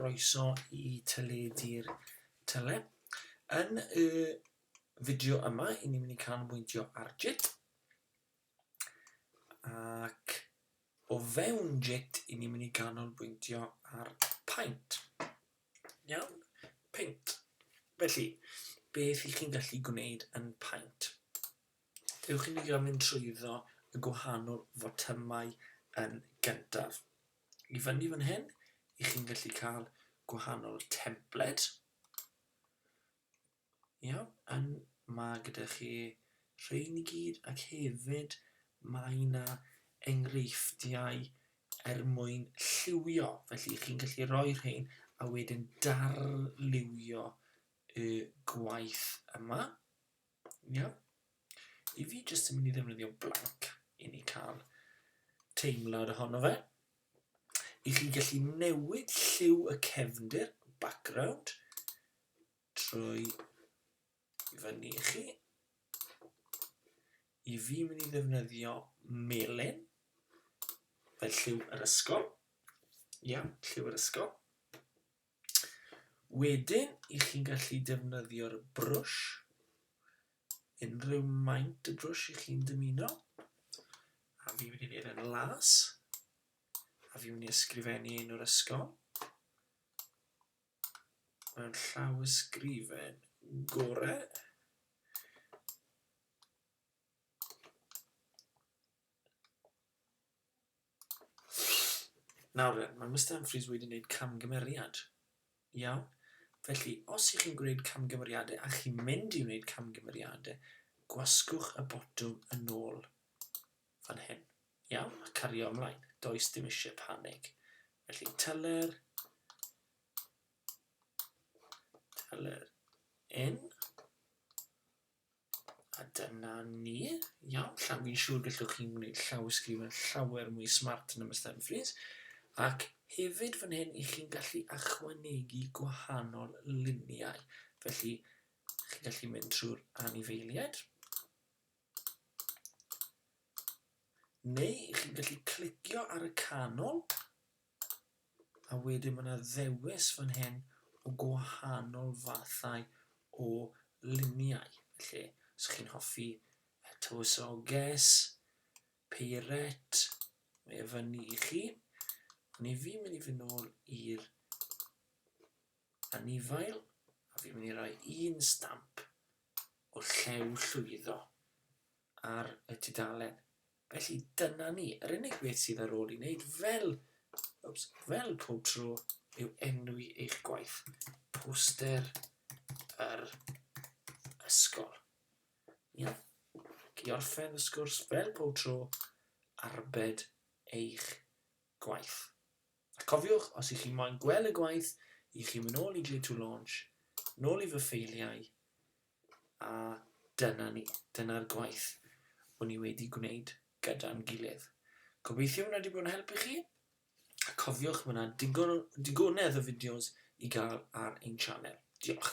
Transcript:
Croeso i Teledu'r Tele. Yn y fideo yma, i ni'n mynd i canolbwyntio ar JIT. Ac o fewn JIT, i ni'n mynd i canolbwyntio ar paint. Iawn? Paint. Felly, beth i chi'n gallu gwneud yn paint? Dewch i ni gymryd trwyddo y gwahanol fotymau yn gyntaf. I fyny fan hyn, i chi'n gallu cael gwahanol templed. Iawn, yn mae gyda chi rhain i gyd ac hefyd mae yna enghreifftiau er mwyn lliwio. Felly chi'n gallu rhoi rhain a wedyn darlywio y gwaith yma. Ie. I fi jyst yn mynd i ddefnyddio blank i ni cael teimlad ohono fe. I chi gallu newid lliw y cefndir, background, trwy fyny i chi. I fi mynd i ddefnyddio melin fel lliw yr ysgol. Ie, lliw yr ysgol. Wedyn, i chi'n gallu defnyddio'r brwsh, unrhyw maint y brwsh i chi'n dymuno. A fi'n mynd i wneud yn las. A fi'n mynd i ysgrifennu un o'r ysgol. Mae'n llaw ysgrifen gore. Nawr de, mae Mister Humphreys wedi gwneud camgymeriad. Iawn? Felly, os ych chi'n gwneud camgymeriadau a chi'n mynd i wneud camgymeriadau, gwasgwch y botwm yn ôl fan hyn. Iawn? A cario ymlaen. Does dim eisiau panig. Felly, teller, teller in, A dyna ni. Iawn, llaw fi'n siŵr gallwch chi'n gwneud llawysgrifen llawer mwy smart na Mister Humphreys. Ac hefyd fan hyn i chi'n gallu ychwanegu gwahanol luniau. Felly, chi'n gallu mynd trwy'r anifeiliaid. Neu chi'n gallu clicio ar y canol A wedyn ma' 'na ddewis fan hyn o gwahanol fathau o luniau. Felly, os chi'n hoffi tywysoges, peiret, mae e fyny i chi. Ond 'y fi'n mynd i fynd nôl i'r anifail, a fi'n mynd i roi un stamp o Llew Llwyddo. ar y tudalen. Felly dyna ni. Yr unig beth sydd ar ôl i wneud fel, oops, fel pob tro yw enwi eich gwaith. Poster yr ysgol. Ia. Ac i orffen y sgwrs fel pob tro, arbed eich gwaith. A cofiwch, os ych chi moyn gweld y gwaith, i chi mynd ôl i Glitw Launch, nôl i fy ffeiliau, A dyna ni, dyna'r gwaith o'n i wedi gwneud gyda'n gilydd. Gobeithio hwnna 'di bod yn help i chi, a cofiwch ma' 'na digon o digonedd o fideos i gael ar ein sianel. Diolch.